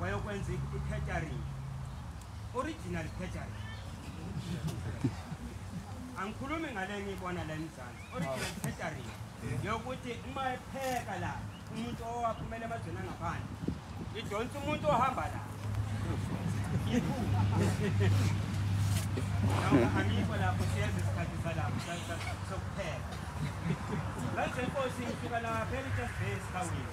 wayokwenza i-catering original catering angikhulumi ngale ngiyibona la emzansi original catering yokuthi uma epheka la umuntu owaphumela emazweni angaphandle idonsa umuntu ohamba la iphuma angikho lapho siyeza isikhathi salapho sokupheka manje inkosi ngifika lapha elitesibhesi kawini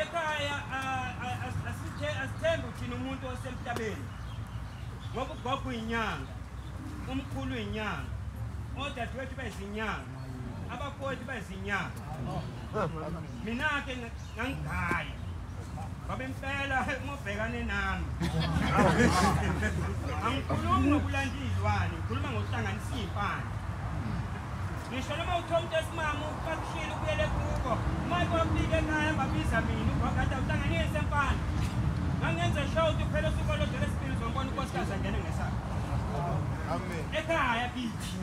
Ekhaya asithembi thina umuntu osemhlabeni ngoba ugogo uyinyanga umkhulu uyinyanga odadewethu bezinyanga abafowethu bezinyanga mina-ke ngangigaya ngoba impela ngobhekane nami angikhulumi ngokulanda iy'lwane ngikhuluma ngokuhlanganisa iy'mpande ngisho noma uthola umuntu esimama uqakushile ubuyele kubo manje wafika ekhaya babiza mina ubhagada uhlanganise mfana ngangenze show ukuthi phela usuku olodela esibili zombona unkosikazi angene ngesakhe ekhaya bithi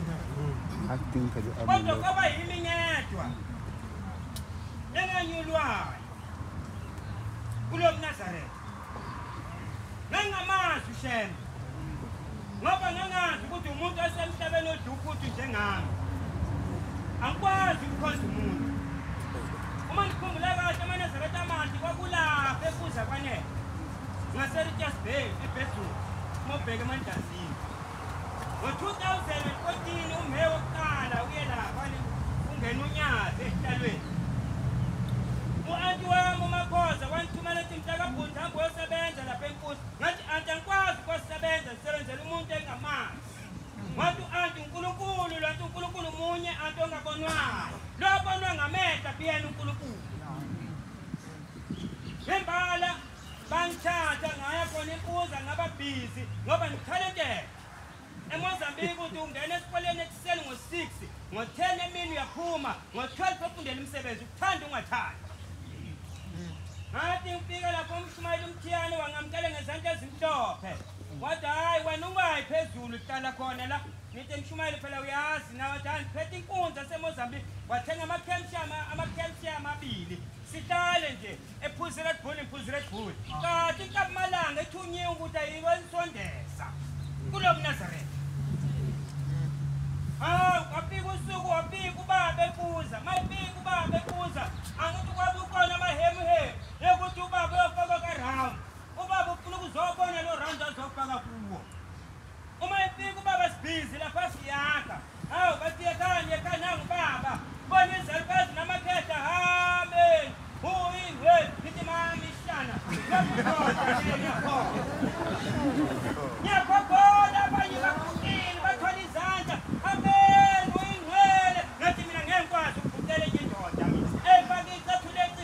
kodwa kwaba yimi ngedwa enganyulwayo kulo mnazaretha ngangingamazi ushembe ngoba ngangazi ukuthi umuntu osemhlabeni odufuthi njengami angikwazi ukukhonza umuntu uma ndikhumbula kahle amanezareta amanti kwakulapha ekuza kwanele ngasericas bay ebedroom mobheke emandazini Ngo-2014 umhe wokuqala uye lapha ungena unyazi esihlalweni. U-anti wami uMakhoza wangithumela ethi mntakabhuti hambe uyosebenza lapha enkusi. Ngathi anti angikwazi ukuyosebenza ngisebenzela umuntu engamazi. Wathi u-anti uNkulunkulu lo anti uNkulunkulu munye anti ongabonwayo. Lo obonwa ngamehla biyena uNkulunkulu. Nembala bangithatha ngaya khona ibuza ngaba busy ngoba ngikhalekele emozambique uthi ungena esikoleni ekuseni ngo-six ngo-ten emini uyaphuma ngo-twelve ofundela umsebenzi ukuthanda ungathandi ngathi ngifika lapho umshumayeli umthiyane wangamkele ngezandla ezimhlophe wathi hhayi wena ungayi phezulu hlala khona la ngithi mshumayeli phela uyazi nawe wathi hhayi ngiphethe inkunzi asemozambique wathenga ama-calcium ama-calcium abili sihlale nje ephuzi red bull iphuzi red bull kati nkamalanga ithunye ukuthi ayiko isondeza kulo mnazaretha hawu kwafika usuku wabika ubaba ebuza mayibika ubaba ebuza angithi kwabe ukhona amahemuhemu yokuthi ubaba uyofaka karound ubaba ufuna ukuzobona lo round azofaka kuwo Uma efika ubaba Sibhizi lapha siyakha. Hawu basiyekani yekhana ngubaba. Bona izalukazi namakhehla hambe. Huyi we ngithi mami shana. Ngiyakhona abanye bakukini bathwala izandla. Amen uyingcwele. Ngathi mina ngeke ngikwazi ukubukela enye indoda. Emfakisa thuleci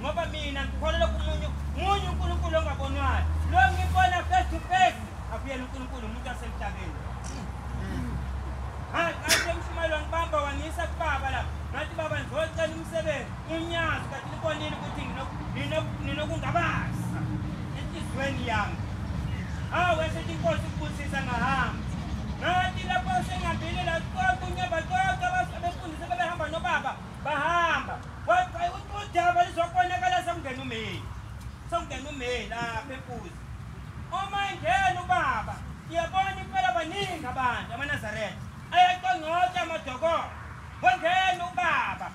ngoba mina ngikholelwa kumunye munye uNkulunkulu ongabonwayo lo ngibona face to face akuyena uNkulunkulu umuntu wasemhlabeni hayi kanti emshumayelo ngibamba wangiyisa kubaba la ngathi baba ngizocela umsebenzi unyazi kanti libonile ukuthi ninokungabaza enhliziyweni yami hawu esethi inkosi kubusisa ngahamba ngathi lapho sengihambile la konke unyaba konke abefundisi bebehamba nobaba bahamba udaba lizokonakala sekungena umeyi sekungena umeyi lapha empuzi uma engena ubaba ngiyabona impela baningi abantu amanazaretha ayaqongqotsha amadokolo wangena ubaba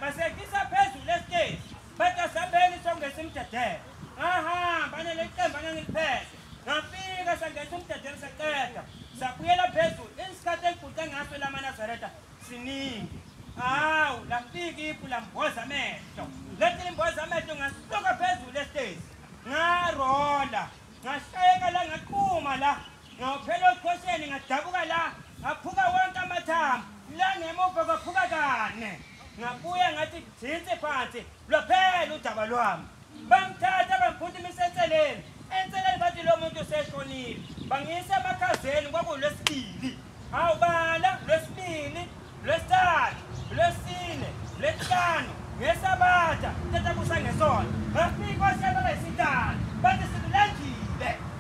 basehlisa phezulu esiteji bathi asabeni songesa imdedelo ngahamba nele qembu angangiliphethe ngafika sangesa umdedelo saqeda sabuyela phezulu isikhathi engiguqe ngaso lamanazaretha siningi hawu lafika ipu lamboza amehlo lethi limboza amehlo ngasuka phezulu esitezi ngarola ngashayeka la ngaquma la ngaphela okhosheni ngadabuka la ngaphuka wonke amathambo la ngemuva kwaphuka kane ngabuya ngathi jinsi phansi Lwaphela udaba lwami. Bangithatha bangiphuthuma isenseleni. Enseleni bathi lo muntu useshonile. Bangiyisa emakhazeni kwakulwesibili. Hawu bala lwesibili, lwesithathu, lwesine, lwesihlanu, ngesabatha, tata kusa ngesonto. Bafika oshaka bayisithathu. Bathi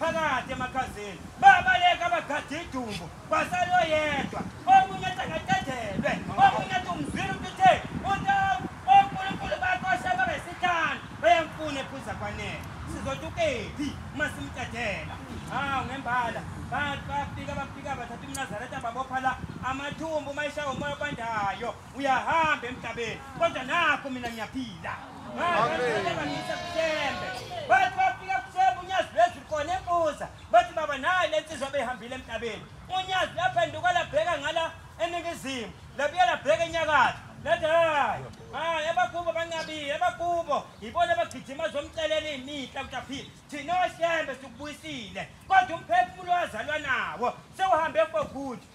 phakathi emakhazeni babaleka abagade idumbu kwasale oyedwa omunye athi angadedelwe omunye athi umzwile umuntu uthe untaku onkulunkulu bakho asebabesikhala beyemfuna ephuza kwanele sizothi ukephi uma simdedela hawu ngembala bafika bafika bathatha umnazareta babopha la amathumbu uma eshawa umoya obandayo uyahamba emhlabeni kodwa nakho mina ngiyaphila ngisebusembe bathi bafika kusembe unyazi lwezulu khona embuza bathi baba naye le nsizwa beyihambile emhlabeni unyazi laphenduka labheka ngala eningizimu labuye labheka enyakatho lathi hayi hayi abakubo bancabile abakubo yibona abagijima zomcelela iy'mihla ukuthi aphile thina osembe sikubuyisile kodwa umphefumulo wazalwa nawo sewuhambe fokuthi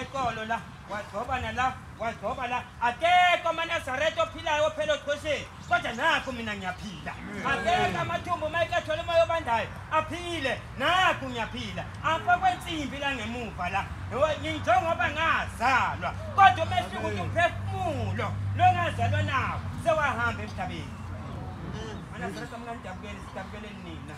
eqolo la wagcoba nala wagcoba la akekho amanazarete ophilayo ophela oqhosheni kodwa nakho mina ngiyaphila akekho amathumbu uma ekethole umoya obandayo aphile nakho ngiyaphila apha kwensimbi la ngemuva la njengoba ngazalwa kodwa umehluko ukuthi umphefumulo longazalwa nawo sewahamba emhlabeni anazarete mna ndidabukele sidabukeleni nina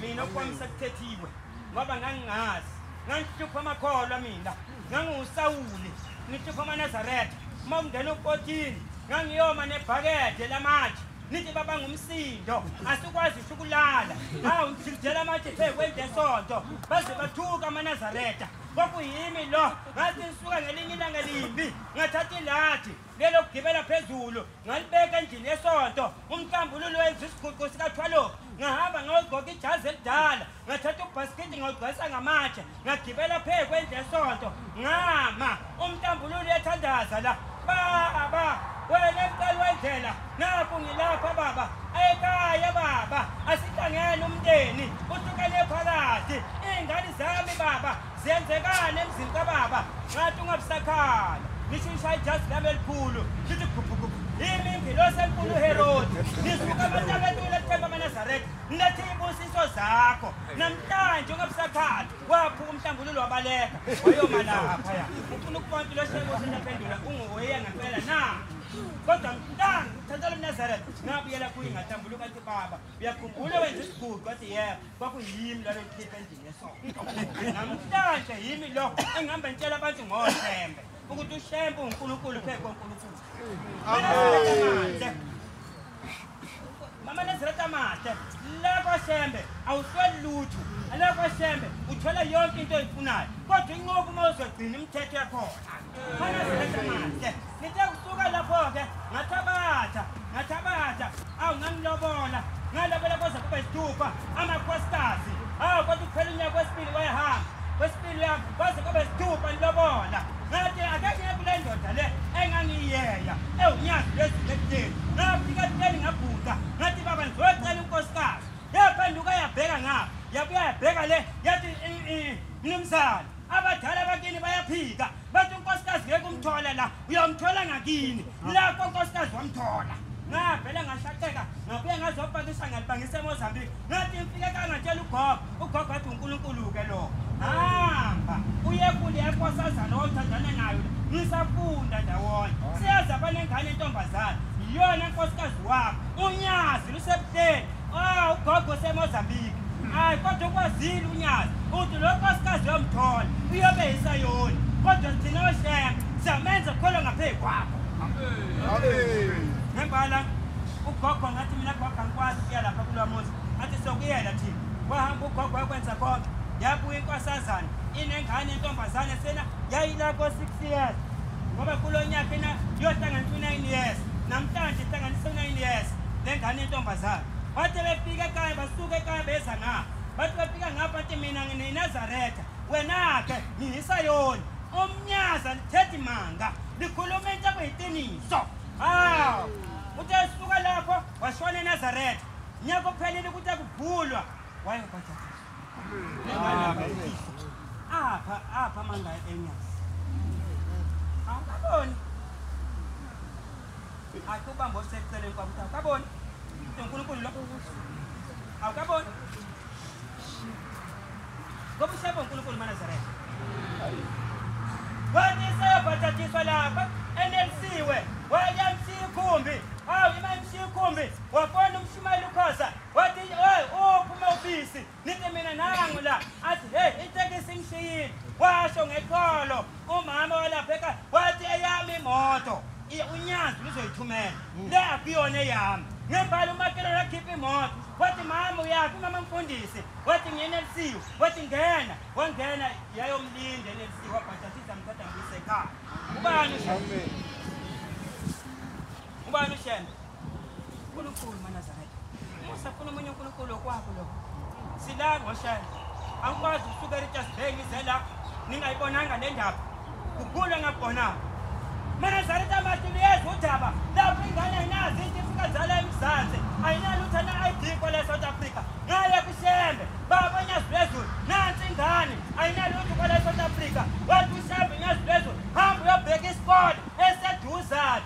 mina okwami sekuthethiwe ngoba ngangingazi ngangihlupha amakholwa mina ngangiwusawuli ngihlupha amanazaretha uma kungena ukotini ngangiyoma nebhakede lamatshe nithi baba ngumsindo asikwazi usho ukulala hawu ngidlidela amatshe phe kwendesonto baze bathuka amanazaretha kwakuyimi lo ngathi ngisuka ngelinye ilanga limbi ngathatha ilathi lelokugibela phezulu ngalibeka endlini yesonto umhlambululo wenza isiguqu sikathwaloku ngahamba ngayogqoka ijazi elidala ngathatha ubhasikidi ngawugcwalisa ngamatshe ngagibela phezu kwendlu esonto ngama umntambululu uyathandaza la baba wena mqali wendlela naku ngilapha baba ekhaya baba asihlangene umndeni uhlukane phakathi iy'ngane zami baba ziyenzekani emzini kababa ngathi ungabusakhala ngisho ishaya ijazi lami elikhulu ngithi gubhugubhu yimi ngilosenkulu uherodi ngisuka abantu abentula ethemba amanazareth Ngathi ibusiso zakho namhlanje ongabusakhathi waphuka umhlambululo wabaleka wayoma lapha ya ufuna ukubona impilo sheko sendaphendula unguweya ngempela na kodwa mntana uthathela umnazareth ngabuyela kuye ngahlambuluka athi baba uyakhumbula wenza isiguqu athi yebo kwakuyimi lalo likhipha endlini yesonto namhlanje yimi lo engihamba ngitshela abantu ngothembe ukuthi ushembe unkulunkulu phezu konkulunkulu mama nezira tamate lekwa shembe awusweli lutho alekwa shembe uthola yonke into oyifunayo kodwa inqobo uma uzogcina imithetho yakhona khona zira tamate ngithe kusuka lapho-ke ngathabatha ngathabatha awu ngangilobola ngalobela kwaze kube sithupha amakhosikazi awu kodwa ukuphela unyaka wesibili wayehamba kwaze kube sithupha lilobola ngathi akekho kule ndoda le engangiyeya ewunyazi lwezinto ekuteni ngafika kuteni ngabhuda ngathi baba ngizocela unkosikazi yaphenduka yabheka ngapha yabuya yabheka le yathi mnumzane abadala bakini bayaphika bathi unkosikazi ngeke umthole la uyamthola ngakini lapho unkosikazi wamthola ngavele ngashaqeka ngabuye ngazopakisha ngalibangisa emozambique ngathi ngifike kangatshela ugogo ugogo athi unkulunkulu-ke lo hamba uye kule yakosazana owawuthandana nayo ngisafunda ndawonye siyazi abanengane entombazane yiyona nkosikazi wakho unyazi lusebuhleni Oh, ugogo useMozambique. Hayi kodwa ukwazile uNyazi. Uthi lo nkosikazi yomthola uyobe yisayoni. Kodwa thina ohlema siyamenza kholo ngaphezu kwakho. Ngembala ugogo ngathi mina gogo angikwazi ukuya lapha kulo muzi. Athi sokuyela thina. Wahamba ugogo wakwenza konke. Yabuya inkosazana inengane intombazane sena yayila ko 6 years. Ngoba kulo nyaka ina yohlangana ku 9 years. Namhlanje ihlanganisa 9 years. lengane yentombazane bathe befika ekhaya basuka ekhaya beza ngapha bathi befika ngapha bathi mina nginenazaretha wena-ke nginisayoni omnyaza lithethi manga likhuluma into kuyiqiniso hawu uthe suka lapho washona enazaretha nyaka ophelile ukuthi akuvulwa wayebhaapha apha amanga enyazi awukaboni Athi ubamba oseceleni kwami ukuthi awukaboni. Into uNkulunkulu lokho ukuthi awukaboni. Ngoba usebo uNkulunkulu maNazaretha. Wathi sebhathatiswa lapha enelisiwe wayamshiya ikhumbi. Awu imamshiya ikhumbi wafona umshumayeli ukhoza wathi hey uphuma ubisi Nithi mina nangu la athi hey itekisi imshiyile washo ngekholo umama walapha ekhaya wathi eyami imoto unyazi lizoyithumela hmm. le akuyona eyami ngembala umakhelwane akhipha imoto wathi mama uyaphi mama mfundisi wathi ngiyenelisiwe wathi ngena wangena yayomlinda enelisiwe wabhajathiza mthatha ngisekhaya ubani ubani ushembe Nkulunkulu maNazareth. Musa funa omunye uNkulunkulu okwakho lo. Silani washaya. Angikwazi ukusuka eRichards Bay ngize la ningayibonanga le ndaba. Kugula ngakubona. MaNazareth amathi liyeza udaba. Lapho ingane ayinazi into ifika zala eMzansi. Ayinalutho na-ID kwale South Africa. Ngale kuShembe. Baba Nyazi Lwezulu. Nansi ingane. Ayinalutho kwale South Africa. Wathi uShembe Nyazi Lwezulu. Hamba uyobheka isikole eseduzane.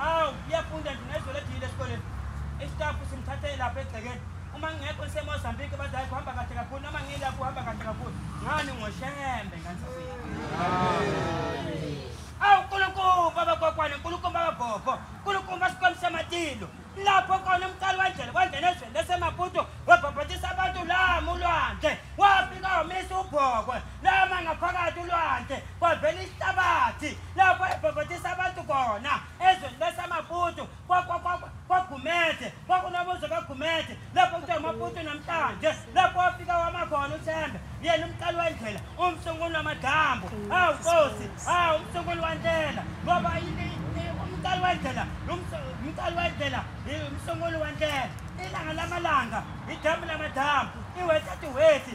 Awu, iyafunda nje ngezwe lejile esikoleni. Isitafu simthathe lapha egcekeni. Uma ngingekho ngisemozambike badala kuhamba kahle kakhulu noma ngilapho uhamba kahle kakhulu. Ngani ngoshembe ngani Awu Nkulunkulu baba kokwane Nkulunkulu baba gogo Nkulunkulu basikhombisa matilo lapho kona umcali wendlela kwangena ezweni lesemaputo wabhabhatisa abantu la mulwandle wafika wamisa ubhokwe lama ngaphakathi ulwandle kwavela ihlabathi lapho ebhobhodisa abantu khona ezweni lesamaputu kwagumede kwakunobuzo kagumede lapho kuthiwa amaputu namhlanje lapho wafika wama khona uthembe yena umqali wendlela umsunguli wamadambu hawu nkosi hawu umsunguli wantela ngoba umqali wendlela umqali wendlela umsunguli wantela ilanga lamalanga idambu lamadambu iwethathu wethi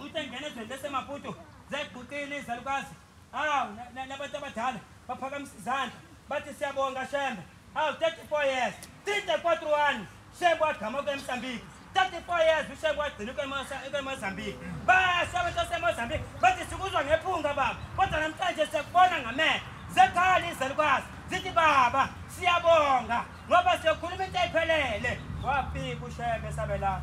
Uthi engena ezweni leseMaputo zayiguqile izalukazi. Hawu nabantu abadala baphakamisa izandla bathi siyabonga Shembe. Hawu 34 years. 34 anos. Shembe wagama kweMsambiki. 34 years uShembe wagcina kweMozambique. Basha abantu baseMozambique bathi sikuzwa ngephunga baba. Kodwa namhlanje siyakubona ngamehlo. Zekhali izalukazi zithi baba siyabonga. ngoba siyokhuluma into ephelele wafika ushebe sabe la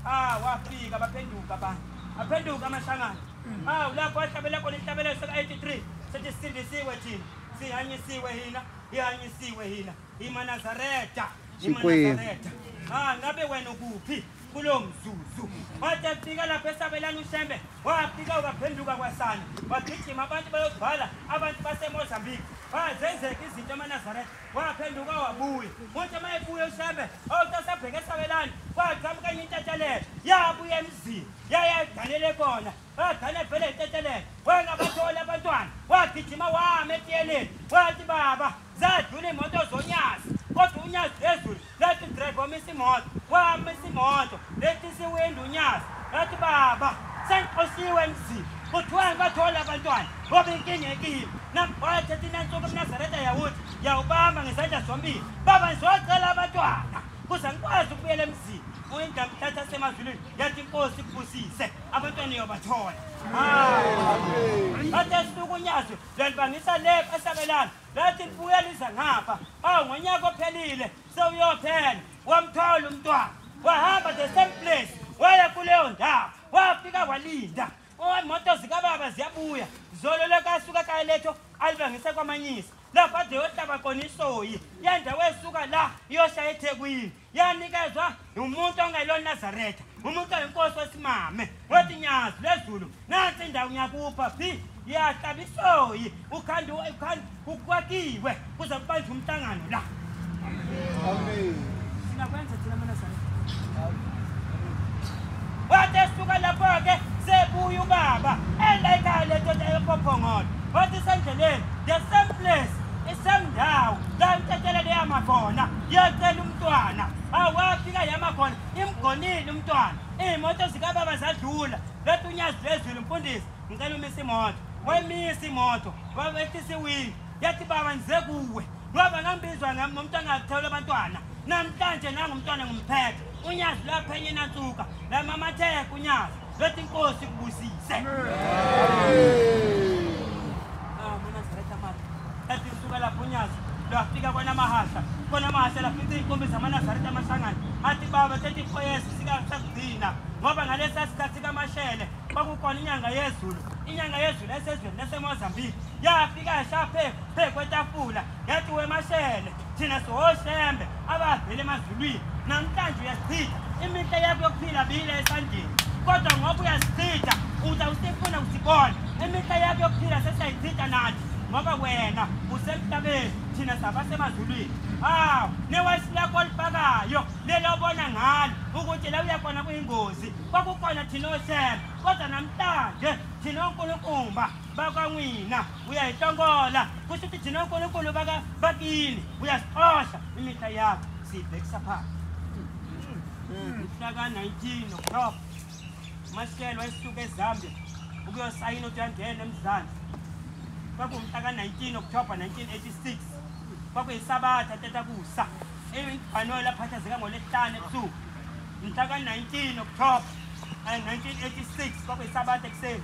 ah wafika baphenduka ba aphenduka amashangana mm. awu lapho ahlabela khona inhlabelelo seka-83 sethi sisindisiwe thina sihanyisiwe hina ihanyisiwe hina imanazareta imanazareta ah ngabe wena ukuphi kulo mzuzu wathi afika lapho esabelana ushembe wafika waphenduka kwasana wagijima abantu bayobhala abantu basemozambique bazenzeka izinto emanazareta waphenduka wabuya kuthi uma ebuya ushembe awutasabheke esabelani kwagqamuka enye intetelelo yabuya emzini yayayiganele kona agane vele intetelelo wengabatholi abantwana wagijima wama etiyeleni wathi baba zadlula imoto zonyazi kodwa unyazi phezulu Lathi drive wamisa imoto, wamisa imoto, letisa iwindi uNyazi. Lathi baba, sengixoshiwe emzini. Kuthiwani bathola abantwana, ngoba inkinga ekimi. Nambathe thina nsuku eMnazaretha yawuthi, yawubamba ngezandla zombili. Baba ngizocela abantwana, kuze ngikwazi ukubuyela emzini. Uyinda mthatha semazulwini, yathi inkosi kubusise, abantwana iyobathola. Hayi. Bathe silukunyazi, lwalibangisa le esabelana. Lathi libuya liza ngapha. Oh ngonyaka ophelile sewuyophela. Wamthola umntwana. Wahamba the same place. Waya kuleyo ndawo. Wafika walinda. Imoto zikababa ziyabuya. Zolo lekasuka kayeletho alibangisa kwamanyisa. Lapha deyohlaba kona isoyi. Yendawo esuka la iyoshaya eThekwini. yanikezwa umuntu ongelona Nazareth umuntu oyinkosi wesimame wethi nyazi lezulu nansi indawo ngiyakupha phi yahlaba isoyi ukhanda ukhanda ukwakiwe kuze kubanje umhlangano la amen sinakwenza thina mana sana wathi esuka lapho ke sebuya ubaba endayikhaya le ndoda epophongolo wathi sendleleni the same place isendawo la intethelele yama khona Ngiyacela umntwana awafika yama khona imgonile umntwana iy'moto zikababa zadlula bethi unyazi lwezulu mfundisi ngicela umisa imoto wayimisa imoto wabehlisa iwindi yathi baba ngize kuwe ngoba ngambizwa ngomuntu angathewula abantwana namhlanje nangumntwana ngumphethe unyazi lwaphenye nansuka lamamatheka unyazi Let inkosi kubusise. Ah, mina ngizaleta manje. Ethi usuka lapho unyazi lwafika kona mahasha. Kona mahasha lafika inkombi zamaNazaretha amashangane. Athi baba 34 years sikakugcina ngoba ngalesa sikhathi kamashele kwakukhona inyanga yezulu. Inyanga yezulu esezweni laseMozambique. Yafika yashaphe phekwetafula yathi wemashele thina sihoshembe abavele emazulwini namhlanje uyasichitha imihle yakho yokuphila biyile esandleni kodwa ngoba uyasichitha uza usifuna usibona imihle yakho yokuphila sesiyayichitha nathi ngoba wena usemhlabeni thina sabasemazulwini hawu newesi lakho olifakayo lelobona ngalo ukuthi la uyakhona kuyingozi kwakukhona thina oshembe kodwa namhlanje thina onkulunkumba bakwangwina uya hi hlongola kusho ukuthi jina unkulunkulu bakini uyasixosha imihla yakho siyibhekisa phansi mhlaka-19 october umashelwa esuke ezambia ukuyosayina ukuthi uyangena emzansi kwakuwumhlaka-19 october 1986 kwakuyisabatha tetakusa eyibhanola aphathazeka ngolesihlanu ebusuku mhlaka-19 october 1986 kwakuyisabatha ekuseni